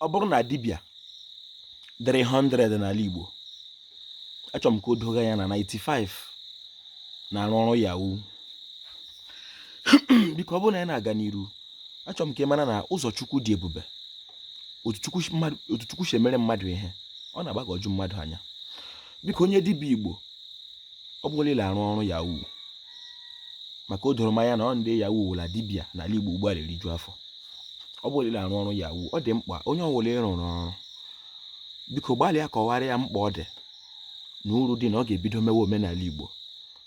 ọ bụrụ na dibịa dịrị 100 n'ala Igbo achọrọ m ka o doo gị anya na 95 na-arụ ọrụ yahoo biko ọ bụrụ na anyị na-aga n'iru achọrọ m ka ị mara na ụzọ Chukwu dị ebube otu Chukwu si emere mmadụ ihe ọ na-agbagọju mmadụ anya biko onye dibịa Igbo ọ bụrụ na ị na-arụ ọrụ yahoo maka o doro m anya na ọ ndị yahoo wụla dibịa n'ala Igbo ugbu a na-eriju afọ ọ bụrụ na ị na-arụ ọrụ yahoo ọ dị mkpa onye ọ wụla ị rụrụ ọrụ biko gbalịa kọwara ya mkpa ọ dị na uru dị na ọ ga-ebido mewe omenala igbo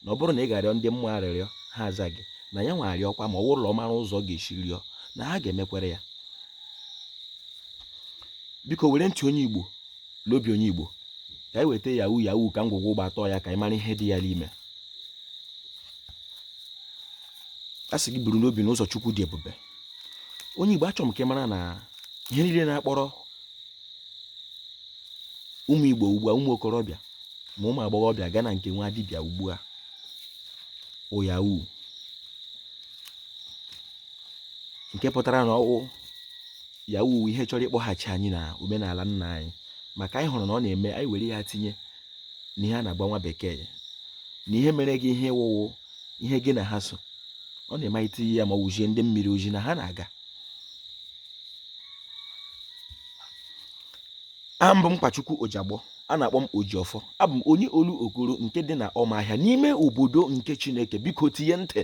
na ọ bụrụ na ị ga-arịọ ndị mmụọ arịrịọ ha aza gị na ya nwa rịọkwa ma ọ wụrụ na ọ mara ụzọ ọ ga-esi rịọ na ha ga-emekwere ya biko were ntị onye igbo bụ onye igbo ka anyị weta yahoo yahoo ka ngwugwu ugbu a tọọ ya ka anyị mara ihe dị ya n'ime a sị gị buru n'obi na ụzọ chukwu dị ebube onye Igbo achọ m ka ị mara na ihe niile na-akpọrọ ụmụ Igbo ugbu a ụmụ okorobịa ma ụmụ agbọghọbịa gaa na nke nwa dibịa ugbu a wụ yahoo nke pụtara na ọ wụ yahoo ihe chọrọ ịkpọghachi anyị na omenala nna anyị maka anyị hụrụ na ọ na-eme anyị were ya tinye n'ihe a na-agba nwa bekee na ihe mere gị ihe ị wụ wụ ihe gị na ha so ọ na-eme anyị tinye ya ma wụzie ndị mmiri oji na ha na-aga aha m bụ mkpachukwu ojagbọ a na-akpọ m ojiọfọ abụ m onye olokoro nke dị na ụmụahịa n'ime obodo nke chineke biko tinye ntị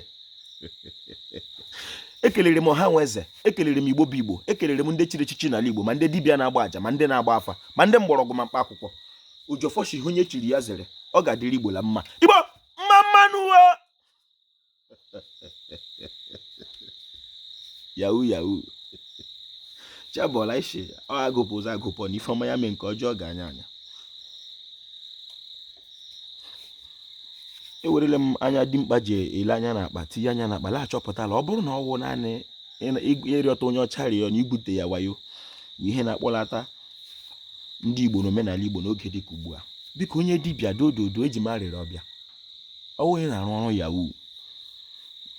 ekelere m ọha na eze ekelere m igbo bụ igbo ekelere m ndị chiri echichi n'ala igbo ma ndị dibịa na-agba aja ma ndị na-agba afa ma ndị mgbọrọgwụ ma mkpa akwụkwọ ojiọfọ sị ihe onye chiri ya zere ọ ga-adịrị igbo la mma igbo mma mma nụ uwe yahoo yahoo chebọla isi ọ agụpụ ụzọ agụpụ na ife ọma ya mee nke ọjọọ gaa anya anya ewerele m anya dimkpa ji ele anya na akpa tinye anya na akpa la-achọpụta la ọ bụrụ na ọ wụ naanị ịrịọta onye ọcha rịọ na ibute ya wayo ihe na-akpọlata ndị Igbo na omenala Igbo n'oge dị ka ugbu a biko onye dibịa dododo eji m arịrịọ bịa ọ wụ onye na-arụ ọrụ yahoo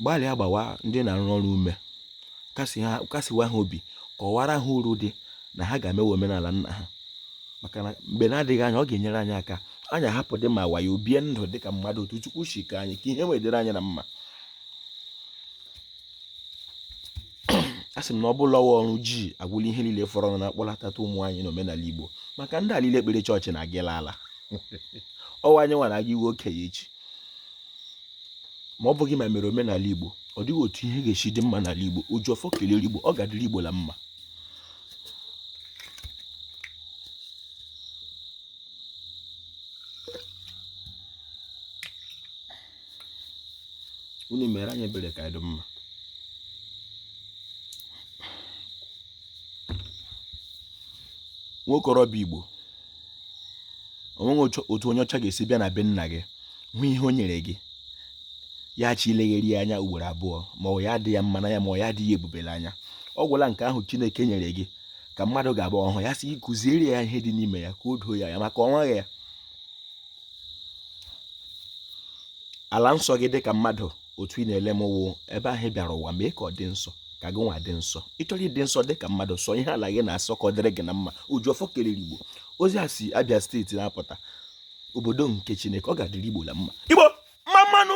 gbalịa gbawa ndị ị na-arụrụ ọrụ ume kasiwa ha obi kọwara ha uru dị na ha ga-emewe omenala nna ha maka na mgbe na-adịghị anya ọ ga-enyere anyị aka anyị ahapụdị ma wayo bie ndụ dị ka mmadụ otu Chukwu si kee anyị ka ihe wee dịrị anyị na mma asị m na ọ bụla ọwa ọrụ ji agwụla ihe niile fọrọ na-akpọlatata ụmụ anyị na omenala Igbo maka ndị a liile ekpere chọọchị na-agịla ala ọ wụ anyị nwa na-aga ịwụ okenye echi ma ọ bụghị ma e mere omenala Igbo ọ dịghị otu ihe ga-esi dị mma n'ala Igbo Ojiọfọ kelere Igbo ọ ga-adịrị Igbo la mma unu mere anyị ebere ka anyị dị mma nwokorobịa Igbo o nweghị otu onye ọcha ga-esi bịa na be nna gị hụ ihe o nyere gị ya chi ilegharị ya anya ugboro abụọ ma ọ ya dị ya mma n'anya ma ọ ya adị ya ebube la anya ọ gwụla nke ahụ Chineke nyere gị ka mmadụ ga-abụ ọ hụ ya sị kụziere ya ihe dị n'ime ya ka o doo ya anya maka ọ wụ ya ala nsọ gị dị ka mmadụ otu ị na-ele m wụ ebe ahụ ị bịara ụwa mee ka ọ dị nsọ ka gị nwa dị nsọ ị chọrọ ịdị nsọ dị ka mmadụ sọ ihe ala gị na-asọ ka ọ dịrị gị na mma Ojiọfọ kelere Igbo ozi a si Abia steeti na-apụta obodo nke Chineke ọ ga-adịrị Igbo la mma Igbo mma mma nụ